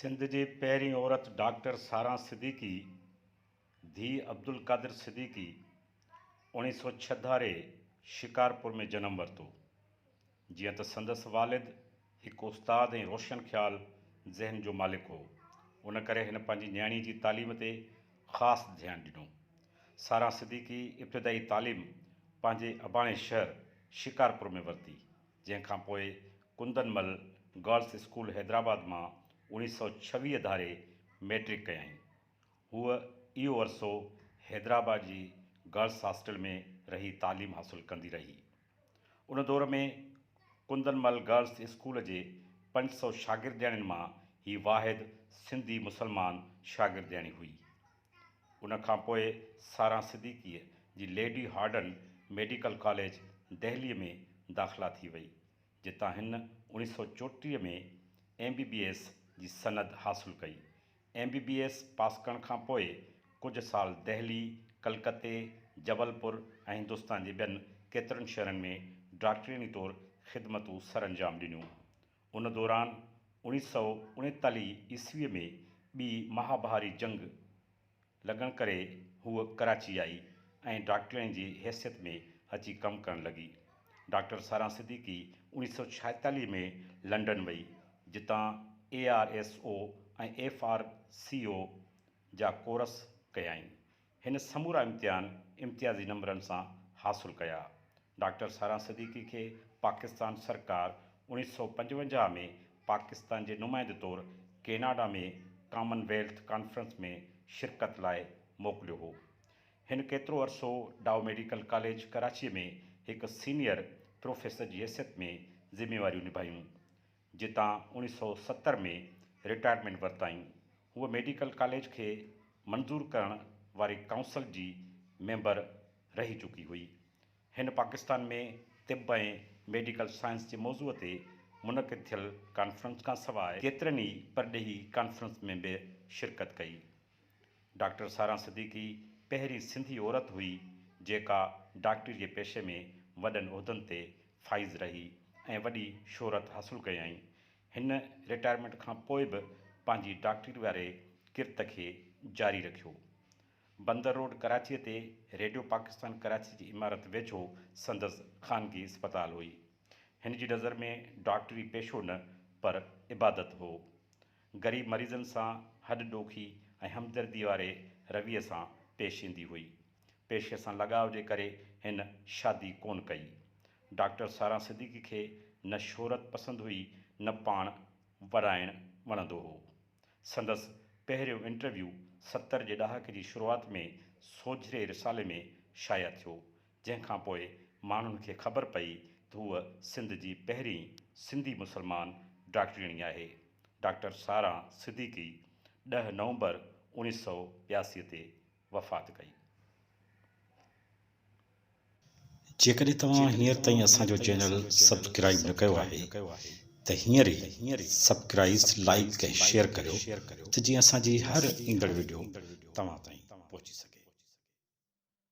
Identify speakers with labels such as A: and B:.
A: سنڌ جي پهرين عورت ڊاڪٽر ساران صديقي ڌيء عبدالقادر صديقي اوڻيھ سؤ ڇھ ڌاري شڪارپور ۾ جنم ورتو. جيئن ته سندس والد هڪ استاد ۽ روشن خيال ذهن جو مالڪ هو، ان ڪري هن پنهنجي نياڻي جي تعليم تي خاص ڌيان ڏنو. ساران صديقي ابتدائي تعليم پنهنجي اباڻي شهر شڪارپور ۾ ورتي. جنهن کان پوء ڪندن مل گرلس اسڪول حيدرآباد مان اوڻيهه سؤ ڇويهه ڌاري مئٽرڪ ڪيائين. هوء اهو عرصو حيدرآباد جي گرلس هاسٽل ۾ رهي تعليم حاصل ڪندي رهي. ان دور ۾ ڪندن مل گرلس اسڪول جي پنج سؤ شاگردياڻين مان هي واحد سنڌي مسلمان شاگردياڻي هئي. ان کان پوء ساران صديقيء جي ليڊي هارڊن ميڊيڪل ڪاليج دهليء ۾ داخلا ٿي وئي، جتان هن اوڻيهه سؤ چوٽيهه ۾ ايم بي بي ايس جي سند حاصل ڪئي. M B B S pass ڪرڻ کان پوء ڪجهه سال دهلي، ڪلڪتي، جبل پور ۽ هندستان جي ٻين ڪيترن شهرن ۾ ڊاڪٽرياڻي طور خدمتون سرانجام ڏنيون. ان دوران اوڻيھ سؤ اڻيتاليھ عيسويء ۾ ٻي مهاڀاري جنگ لڳڻ ڪري هوء ڪراچي آئي ۽ ڊاڪٽرياڻي جي حيثيت ۾ اچي ڪم ڪرڻ لڳي. ڊاڪٽر ساران صديقي اوڻيھ سؤ ڇاهيتاليھ ۾ لنڊن وئي، جتان A R S O ۽ F R C O جا ڪورس ڪيائين. هن سمورا امتحان امتيازي نمبرن سان حاصل ڪيا. ڊاڪٽر ساراهه صديقي کي پاڪستان سرڪار اوڻيھ سؤ پنجونجاھ ۾ پاڪستان جي نمائندي طور ڪيناڊا ۾ ڪامن ويلٿ ڪانفرنس ۾ شرڪت لاء موڪليو هو. هن ڪيترو عرصو ڊائو ميڊيڪل ڪاليج ڪراچيء ۾ هڪ سينيئر پروفيسر جي حيثيت ۾ ذميواريون نڀايون. جتان اوڻيھ سؤ ستر ۾ رٽائرمينٽ ورتائين، هوء ميڊيڪل ڪاليج کي منظور ڪرڻ واري ڪائونسل جي ميمبر رهي چڪي هئي. هن پاڪستان ۾ طب ۽ ميڊيڪل سائنس جي موضوع تي منعقد ٿيل ڪانفرنس کانسواء ڪيترن ئي پرڏيهي ڪانفرنس ۾ به شرڪت ڪئي. ڊاڪٽر ساران صديقي پهرين سنڌي عورت هئي جيڪا ڊاڪٽري جي پيشي ۾ وڏن عهدن تي فائز رهي ۽ وڏي شهرت حاصل ڪيائين. هن رٽائرمينٽ کان پوء به پنهنجي ڊاڪٽري واري ڪرت کي جاري رکيو. بندر روڊ ڪراچيء تي ريڊيو پاڪستان ڪراچي جي عمارت ويجهو سندس خانگي اسپتال هئي. هن جي نظر ۾ ڊاڪٽري پيشو نه پر عبادت هو. غريب مريضن سان هڏ ڏوکي ۽ همدردي واري رويي سان پيش ايندي هئي. پيشي سان لڳاء جي ڪري هن شادي ڪونه ڪئي. ڊاڪٽر ساران صديقي کي نه شهرت پسند هئي نه پاڻ ورائڻ وڻندو هو. سندس پهريون انٽرويو ستر جي ڏهاڪي جي شروعات ۾ سوجهري رسالي ۾ شايع ٿيو، جنهن کان پوء ماڻهن کي خبر پئي ته هوء سنڌ جي پهرين سنڌي مسلمان ڊاڪٽرياڻي آهي. ڊاڪٽر ساران صديقي ڏهه نومبر اوڻيهه سؤ ٻياسي تي وفات ڪئي.
B: جيڪڏهن توهان هينئر تائين اسان جو چينل سبسڪرائيب نه ڪيو آهي ته هينئر ئي سبڪرائيز لائيڪ ۽ شيئر ڪريو ته جيئن اسان جي هر ايندڙ وڊيو توهان تائين پهچي سگهي.